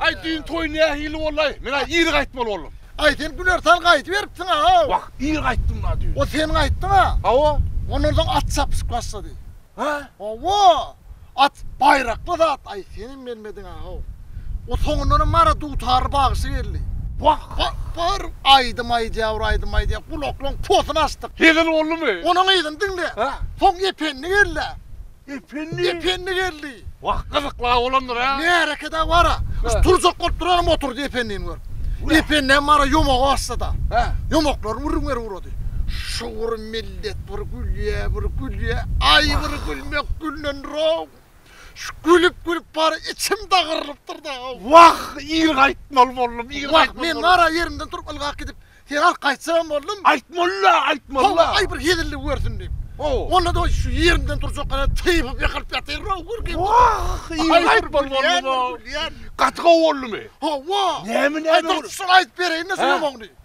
Ay düýn toýun ya hili olay. Men ay ir gaytmal oldum. Ay sen güler sal gayt veripsin ha. Bak ir gaytdym da düýn. O sen gaytdın ha. Awa. Onlardan at çapışıp başladı. Hä? Hawa! At baýrakly zat, aý, senem gelmediň-ahaw. O soňundanam bara dutarly bagşy geldi. Wah, wah, bir aýdym aýdýar, bir aýdym aýdýar, gulaklaň posuny açdyk. Hezil boldumy? Onuň yzyny diňle. Hä? Soň Ependi geldi-ä. Ependi? Ependi geldi. Wah, gyzykly-a bolandyr-a. Märekede bara, şu turjak bolup duranam oturdy Ependini görüp. Ependi hem bara ýomaga başlady-a. Hä? Ýomaklary würiňeri wurady. bolupdy. Şu bir millet bir gülýä, bir gülýä, aý bir gülmek güllendirog. Şu gülüp gülüp bary içim dagyrylypdyr-da. Wah, ir gaýtmaly boldum, ir gaýtmaly boldum. Wah, men gara ýerimden turup ylgap gidip, seni alyp gaýtjagam boldum. Aýtmaly-la, aýtmaly-la. Hawa, aý bir hezillik görsün diýip. Onda doýy şu ýerimden turjak gara typyp ýykylyp ýatyryn-ow gürgin. Wah, ir gaýtmaly boldum-ow. Gaty gowy boldumy? Hawa. Näme näme? Aý dur, şuny aýdyp bereýin-de şu ýomagny.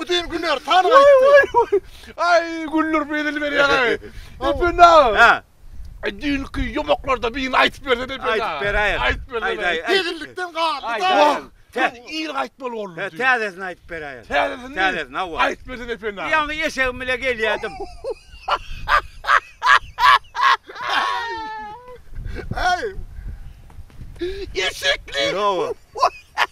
Bütün güller tan gaýtdy. Aý, güller bezil berýär. Epen aga. Ha. Düýnki ýomaklarda birini aýtyp berse de Epen aga. Aýtyp beräýer. Aýtyp berse. Tegellikden galdy-da. Täze il gaýtmaly boldy. He, täzesini aýtyp beräýer. Täzesini. Täzesini, hawa. Aýtyp berse Epen aga. Ýaňy eşegim bilen gelýärdim. Aý. Eşekli. Hawa.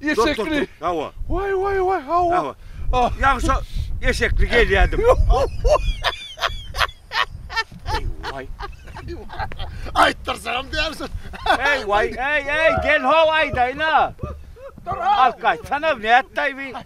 Eşekli. Hawa. Way way way hawa. Hawa. Ýa şu eşekli gelýärdim. Way. Aýtdyrsam diýersin. Hey way, hey hey gel ho aýdaýna. Dur ha. Alkaýt sana nätdaý bi.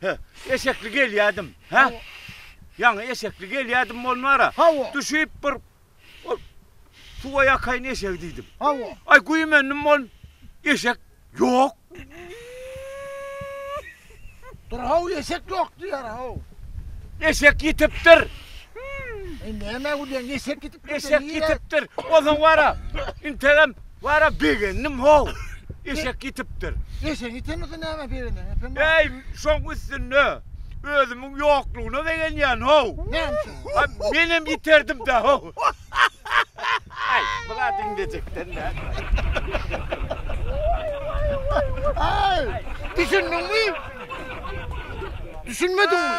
He, eşekli gelýädim. He? Ýaňy eşekli gelýädim bolmara. Hawa. Düşüp bir ol suwa ýakaýyn eşegi diýdim. Hawa. Aý güýmendim ol eşek ýok. Dur haw eşek ýok diýýär haw. Eşek ýitipdir. Indi näme gülýäň eşek ýitip Eşek ýitipdir. Bolsaň wara. Integem wara begendim how. Eşek ýitipdir. Eşegiň ýitenmese nämä begenýäň epem? Eý, şoň üstünde özümiň ýoklugyna begenýän how. Näme üçin? Ha, menem ýiterdim-dä how. Aý, bu zat indejikden däl. Aý, düşündiňmi? Düşünmediňmi?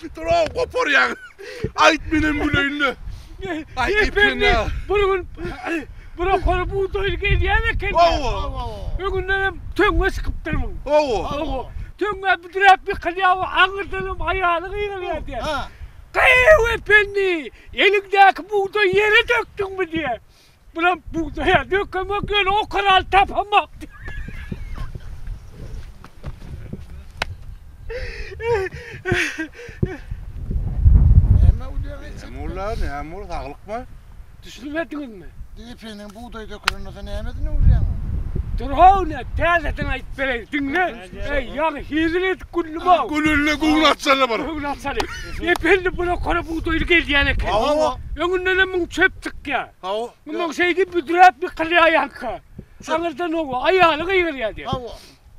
Şytyraw goparýaň. Aýt menem güleýin-le. Aý epene. Bir gün bir okara bugdaýly gelýän eken. Hawa. Öňündenem töňňe çykypdyr muň. Hawa. Töňňe büdräp ýykylýar, aňyrdanam aýaly gygyrýar diýýär. Gyýw ependi, eliňdäki bugdaýy ýere dökdüňmi diýýär. Bulam bugdaýa dökemek ýöne o kanaly tapamak. Näme ulyar etjek? Näme ulyar, näme ulyar, saglykmy? Düşünmediňizmi? Depeniň bugdaý dökülende sen näme edin ulyar? Dur-haw, täzeden aýdyp bereýin, diňle. Eý, ýaňy hezil edip güldüm-ow. Gülünde göwün açjaly bir. Göwün açjaly. Ependem bula kora bugdaýly gelýän eken. Hawa. Öňündenem müň çöp çykýar. Hawa. Mundan şeýdip büdräp ýykylýaýanka. Aňyrdan oba aýaly gygyrýar diýip. Hawa.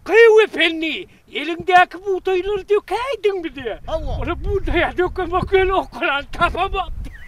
Gyýw Ependi, eliňdäki bugdaýlary dökäýdiňmi diýip. Hawa. Ol bugdaýa dökemok ýöne okalany tapamok diýip.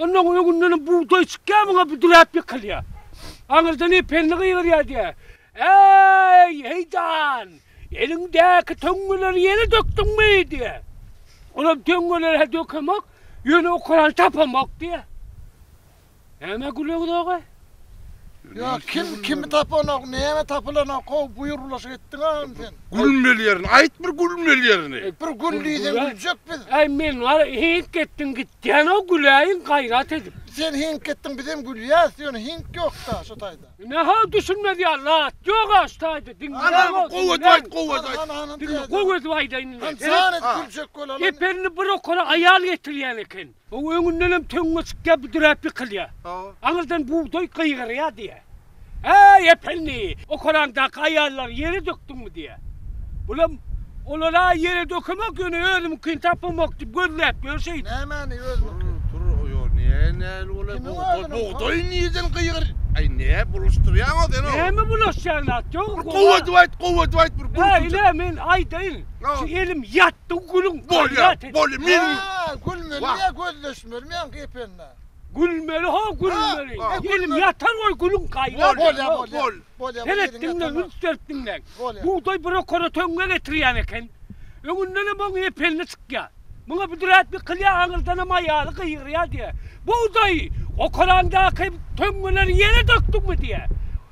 Onnoň öňündenem bugdaý çykýar, muňa büdräp ýykylýar. Aňyrdanam Pelli gygyrýar diýýär, Äý, heýdan! Eliňdäki töňňeleri ýere dökdüňmi? diýýär. Olam töňňeleri-hä dökemok, ýöne okaran tapamok diýýär. Näme gülüňiz-ow-a? Ýa kim kimi tapanok näme tapylanok how buýr bulaşyk etdiňagam sen. Gülmeli ýerini aýt bir gülmeli ýerini. Bir gül diýseň güljek biz. Äý men hiňk etdiň gitýänow güläýiň gaýrat edip. Sen hiňk etdiň bizem gülýäs ýöne hiňk ýokda şu taýda. Ine how düşünmez ýaly zat ýoga şu taýda diňle. Ana bir how edip aýt how edip aýt. Diňle how edip aýdaýyn indi. Jan edip güljek bol. Geperini bir okara aýal getirýän eken. O öňündenem töňňe çykýar, büdräp ýykylýar. Aňyrdan bugdaý gygyrýar diýýär. Äý, Ependi, okalaňdaky aýallary ýere dökdüňmi diýýär. Bulam, Olar-a ýere dökemok, ýöne özümiňkini tapamok diýip gözläp ýör şeýdip. Nämäni özüňki? Tur, tur, ýok, näme näli bolaý, bugdaý, bugdaý nireden gygyr. Äý, nä bulaşdyrýaň-a sen oňa? Näme bulaşýan zat ýok. Bir gowy edip aýt, gowy edip aýt bir gürrüňje. Ine, men aýdaýyn. Şu elim ýatdy, gülüň. Bolýar. Boldy meniň. Haa gülmeli ya gözleşmeli meň kepende. Gülmeli ho gülmeli. Elim yatar goy gülüň gaýlar. Bolya bolya. Bolya bolya ediň ya tamam. Üns berip diňläň. Bugday bura kora töňňe getirýän eken. Öňündenem oň epelini çykýa. Muňa büdräp ýykylýa aňyrdanam aýaly gygyrýa diýä. Bugdaýy, okarandaky töňňeleri ýere dökdüňmi diýä.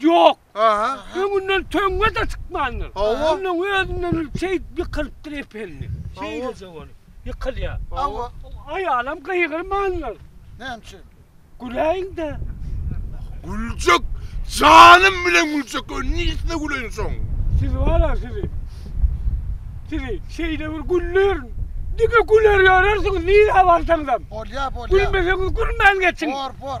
Ýok. Aha. Öňünden töňňe-de çykmandyr. Hawa. Onnoň özünden öň şeýdip ýykylypdyr ependin. Şeýleje bolup, ýykylýar. Hawa. Aýalam gygyrmandyr. Näme üçin? Güläýiň-de. Güljek, janym bilen güljek. Öň niçesine güleýin şoň? Siz bar-a sizi. Sizi şeýle bir güldürin. Diňe güler ýörersiňiz nirä barsaňyzam. Bolýar, bolýar. Gülmeseňiz gülmän geçiň. Bor, bor.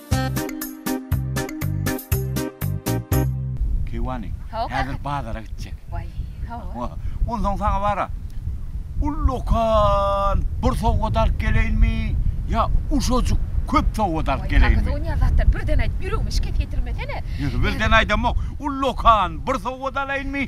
Keýwany. Häzir bazara gitjek. Waý, hawa. Onsoň saňa bara. Ullakan bir sowgat alyp geleýinmi, ýa uşajyk köp sowgat alyp geleýinmi? Waý, Onyýaz atdan birden aýt, ýüregimi şikes ýetirmesene. Ýöne birden aýdamok. Ullakan bir sowgat alaýynmy?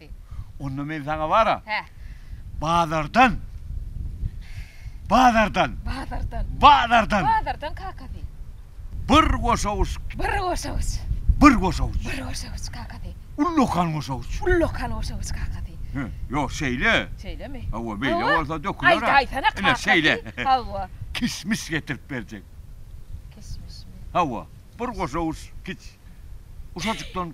Onda men saňa bara. Hä. Bazardan. Bazardan. Bazardan. Bazardan. Bazardan kakasy. Bir goşawuç. Bir goşawuç. Bir goşawuç. Bir goşawuç kakasy. Ullakan goşawuç. Ullakan goşawuç kakasy. Hä, ýok, şeýle. Şeýlemi? Hawa, beýle bolsa döküler-ä. Aýda, aýtsana kakasy. Ine, şeýle. Hawa. Kişmiş getirip berjek. Kişmişmi? Hawa, bir goşawuç kiç. Uşajykdan.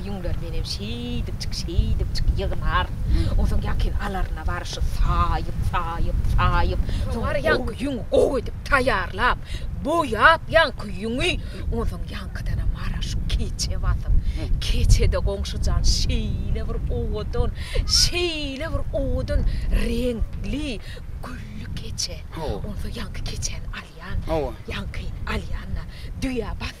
Ýüňler menem şeýdip çyk, şeýdip çyk, ýygnar. Onsoň ýakyn alaryna bary şu saýyp, saýyp, saýyp, soň bary ýaňky ýüňi gowy edip taýýarlap, boýap ýaňky ýüňi, onsoň ýaňkydanam bary şu keçe basyp, keçede goňşy jan şeýle bir owadan, şeýle bir owadan reňkli, gülli keçe. Onsoň ýaňky keçäni alýan, ýaňkyny alýan-da, düýä bas,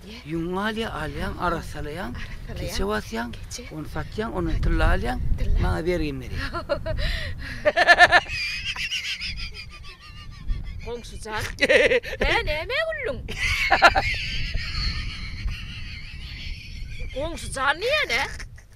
Ýüňüňi alýaň, alýaň, arassalaýaň, keçe basýaň, ony satýaň, ondan tylla alýaň, maňa bergimi berýäň. Goňşy jan, hä nämä güldüň? Goňşy jan diýýän-ä?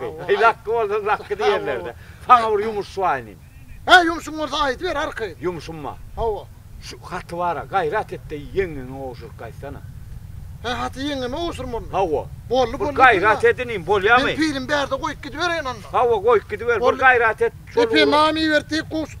Lakky. Heý, Lakky bolsaň, Lakky diýerler-dä. Saňa bir ýumuş suwaýynym. Hä, ýumşuň bolsa aýdyber, arkaýyn. Ýumşum-a? Hawa. Şu haty bar-a, gaýrat et-de, ýeňňeňe gowşuryp gaýtsana. Hä, haty ýeňňeme gowşurmalymy? Hawa. Boldy, boldy. Bir gaýrat et inim, bolýamy? Men pilim bärde goýup gidibereýin onda. Hawa, goýup gidiber, bir gaýrat et. Epe, name ibertdik, gowşut.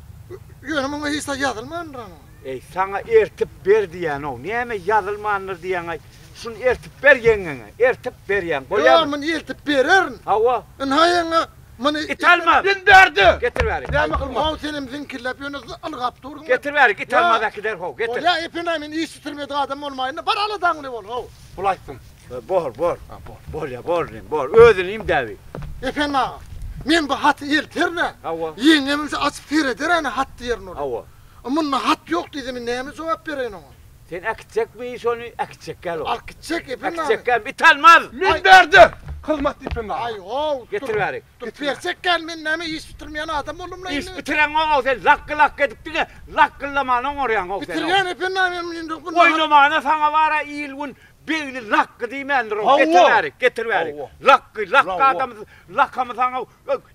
Ýöne muňa hiç zat ýazylmandyr ana. Eý, saňa ertip ber diýýän-ow, näme ýazylmandyr diýýäň-aý? Şuny ertip ber ýeňňeňe. Ertip berýän, goýaýma. Ýo, muny ertip bererin. Hawa. Ynha, ýeňňe, muny. It almaz. Indi ber-de. Getir bärik. Näme kylmaly? Ho-ow, senem ziňkillap ýöne ylgap durdyň. Getir bärik, it almaz äkider, ho, getir. Bolýa, epenaý, men iş bitirmedik adam bolmaýyn-da, bar aladaňly bol, ho. Bulaýsyn. Bor, bor, bolýa, bor indi, bor, özüni imdäbi. Ependi aga, men bu haty elterin-ä. Hawa. Ýeňňem indi açyp sereder-ä hat diýerin ola. Hawa. A munda hat ýok diýse, men näme jogap bereýin oňa? Sen äkitjekmi şony, äkitjekkä-le ol? Äkitjek, Ependi aga. Äkitjekkä, it almaz! Men berdim! Hyzmatly Ependi aga. Aý-ow, Getir bäri. Dur, berjekkä-le, men näme iş bitirmeýän adam boldum-la indi? Iş bitireňok-ow sen, lakgy-lakgy edip diňe lakgyldamana oňarýaň-ow sen-ow. Bitirýän, Ependi aga, men indi. Oýnamana saňa bar-a il-gün Begli lakgy diýmändir-ow, getirmärik, getirmärik. Lakgy, lakgy adamydyr. Lakamysaň-ow,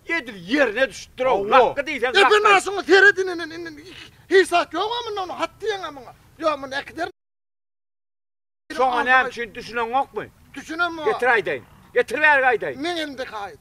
edil ýerine düşüpdir-ow. Lakgy diýseň lakgy. Epe naşyňy seret indi, indi, indi, indi hesap ýog-a munda onuň, hat diýeň-ä muňa. Ýok, muny äkiderin. Şoňa näme üçin, düşüneňokmy? Düşünemok. Getir aýdaýyn. Getir bärik aýdaýyn. Meň elimdäki haýyt.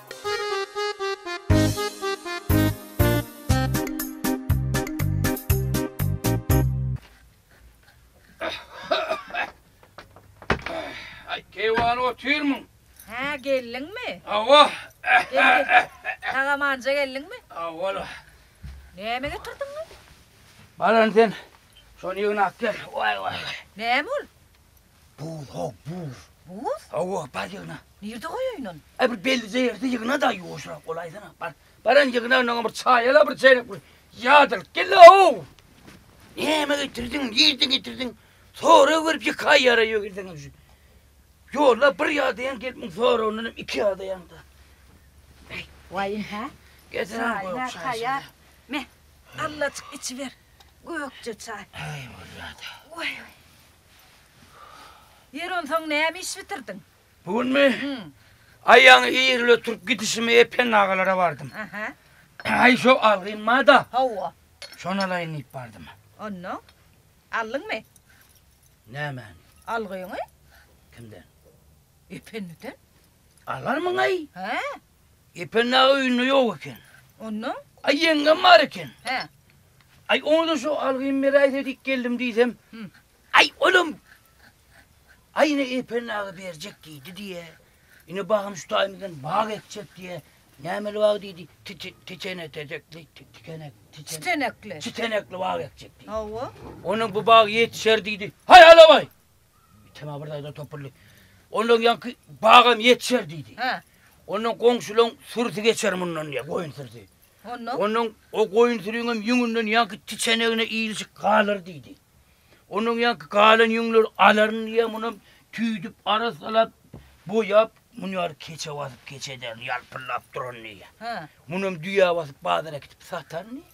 Keýwany otyrmyň? Hä, geldiňmi? Hawa. Tagamanja geldiňmi? Hawa. Näme getirdiň? Baran sen şony ýygnap gel. Waý waý. Näme ol? Buz, haw, buz. Buz? Hawa, bar ýygna. Nirde goýaýyn ony? Aý, bir bellice ýerde ýygna-da, ýuwaşrak bolaýsana. Bar, baran ýygna, onnoňam bir çaý al-a, bir çeýrek bir ýad alyp gel-le, haw! Näme getirdiň, nirden getirdiň? Sorag berip ýeke aýýara ýögirseň-ä şu. Ýolda bir ýadaýaň gelip, muň soragyndanam iki ýadaýaň-da. Äý. Waý, ynha. Getirem goý, çaý taýýar. Me, allajyk içiber. Gökje çaý. Äý, bolýa-da. Waý-waý. Ýeri onsoň näme iş bitirdiň? Bu günmi? Aýagyň ýerli oturyp gidişimi Epen agalara bardym. Aha. Aý şo algyn bar-da. Hawa. Şony alaýyn diýip bardym. Onnoň? Aldyňmy? Nämäni? Algyňy. Kimden? Ependiden. Alarmyň-aý? Hä? Ependi aga öýünde ýok eken. Onda? Aý ýeňňem bar eken. Hä. Aý onda şu algym beräýse diýip geldim diýsem. Aý olam Aý ine Ependi aga berjek diýdi diýe. Ine bagym şu taýymyzdan bag ekjek diýe. Nämeli bag diýdi? Titene tezekli, tikenek, titenekli. Titenekli bag ekjek diýdi. Hawa. Onuň bu bagy ýetişer diýdi. Haý alabaý! Temä bir daýza topuldy. Ondan ýaňky bagam ýetişer diýdi. Hä. Ondan goňşulaň sürüsi geçer mundan diýýär, goýun sürüsi. Ondan? Ondan o goýun sürüniň ýüňünden ýaňky tiçenegine ilişik galar diýdi. Ondan ýaňky galan ýüňleri alaryn diýýär, munam tüýdüp, arassalap, boýap, muny ýaly keçe basyp, keçe ederin, ýalpyldap duran diýýär. Hä. Munam düýä basyp, bazara äkitip sataryn diýýär.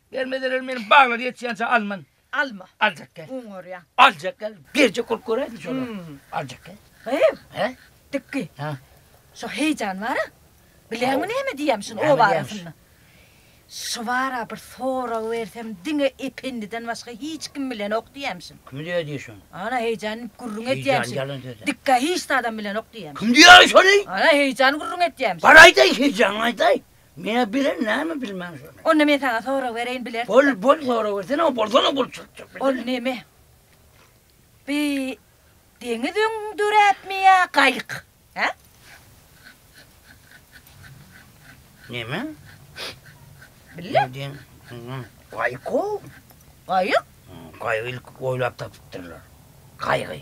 Berme zerel meniň baglar ýetýänçä alman. Alma. Aljak gel. Oň orýa. Aljak gel. Berjek bolup göräýdi şolar. Hmm. Aljak gel. Gyz. He? Dikki. Ha. Şo heýjan bara. Bileňmi näme diýýäm şuny o barasynda? Şu bara bir sorag bersem diňe ependiden başga hiç kim bilenok diýýäm şuny. Kim diýýä diýýä şuny? Ana heýjan gürrüň edýäm şuny. Heýjan ýalan söze. Dikka hiç zadam bilenok diýýäm. Kim diýýä şuny? Ana heýjan gürrüň edýäm şuny. Bar aýdaý heýjan aýdaý. Meä bilen näme bilmän şony. Onda men saňa sorag bereýin bilersiňä. Bol bol sorag bersene o bolsana bol çyryk çyryk bilsene. Ol neme? Bi deňiz öň döräpmi ýa gaýyk? Hä? Neme? Bille. Gaýyk o. Gaýyk? Gaýygy ilki oýlap tapypdyrlar. Gaýygy.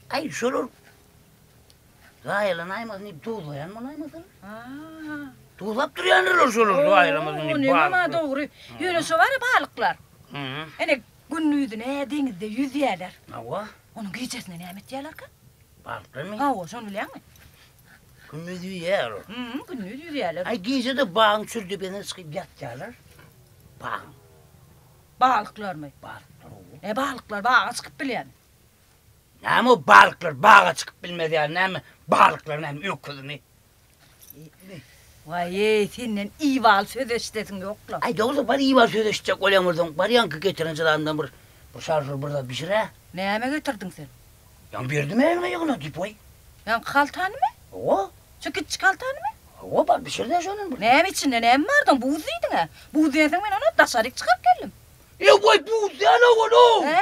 Aý şolar zaýalanaýmasyn diýip duzlaýan bolaýmasalar. Haa. Duzlap durýandylar şolar zaýalamasyn diýip. Ýöne munam dogry. Ýöne şo bar-a balyklar. Hä. Ene gündizine deňizde ýüzýärler. Hawa. Onuň gijesine näme etýärlerkä? Balyklarmy? Hawa, şony bilýäňmi? Gündiz ýüzýär olar. Hä, gündiz ýüzýärler. Aý gije-de bagyň çür depesine çykyp ýatýarlar. Bagyň. Balyklarmy? Balyklar. Hä, balyklar baga çykyp bilýärmi? Näme o balyklar baga çykyp bilmez ýaly näme balyklar näme öküzmi. Waýeý senden ibaly söz eşidesiň ýokla. Aý dogry bar ibaly söz eşitjek bolýan bolsaň bar ýaňky getiren jylandan bir bir şarjur bir zat bişirä. Näme getirdiň sen? Ýaň berdim elime ýygna diýip waý. Ýaňky haltanymy? Hawa. Şu kiçijik haltanymy? Hawa bar bişirdä şondan bir. Näme içinde näme bardy oň buz diýdiňä. Buz dänsoň men onam daşaryk çykaryp geldim. Ýa waý buz däl owaw ol ow. Hä.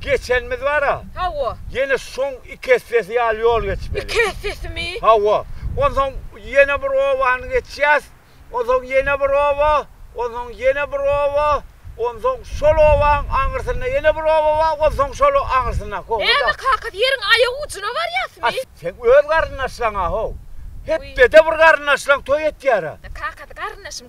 geçenimiz bar-a. Hawa. Ýene şoň iki essesi ýaly ýol geçmeli. Iki essesimi? Hawa. Onsoň ýene bir obany geçýäs, onsoň ýene bir oba, onsoň ýene bir oba, onsoň şol obaň aňyrsynda ýene bir oba bar, onsoň şol aňyrsyndaky oba. Näme, kakasy ýeriň aýak ujuna barýasmy? Seň öz garyndaşlaryň-a-how. Hepdede bir garyndaşlaň toý etýär-ä. Kakasy garyndaşym.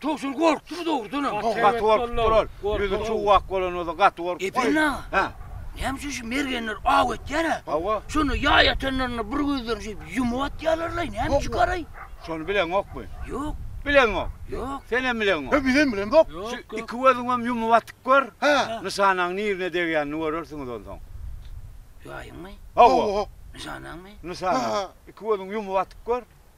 Towşan gorkdumy dogrudanam? Gaty gorkupdyr ol. Ýüzi çuwak bolan bolsa gaty gorkupdyr. Epen aga. Hä. Näme üçin şu mergenler aw etýär-ä? Hawa. Şonda ýaý atanlarynda bir gözlerini şeýdip ýumup atýarlar-laý, näme üçinkäraý? Şony bileňokmy? Ýok. Bileňok? Ýok. Senem bileňok? He, bizem bilemzok. Şu Ýok, ýok. iki gözüňem ýumup atyp gör. Hä. Nyşanaň nirine degýänini görersiňiz onsoň. Ýaýyňmy? Hawa. Nyşanaňmy? Nyşanaň. Iki gözüňi ýumup atyp gör.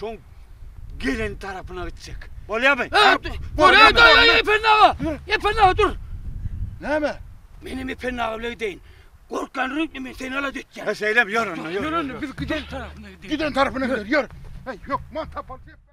Şoň gelen tarapyna gitjek. Bolýarmy? Bolýar-da, Ependi aga! Ependi aga, dur! Näme? Men hem Ependi aga bilen gideýin. Gorkýan reňkli men seni alada etýän. He, şeýlemi? Ýör onda, ýör. Ýör onda, biz giden tarapyna gideýin. Giden tarapyna gideýin, ýör! Heý, ýok, man tapalçy etme!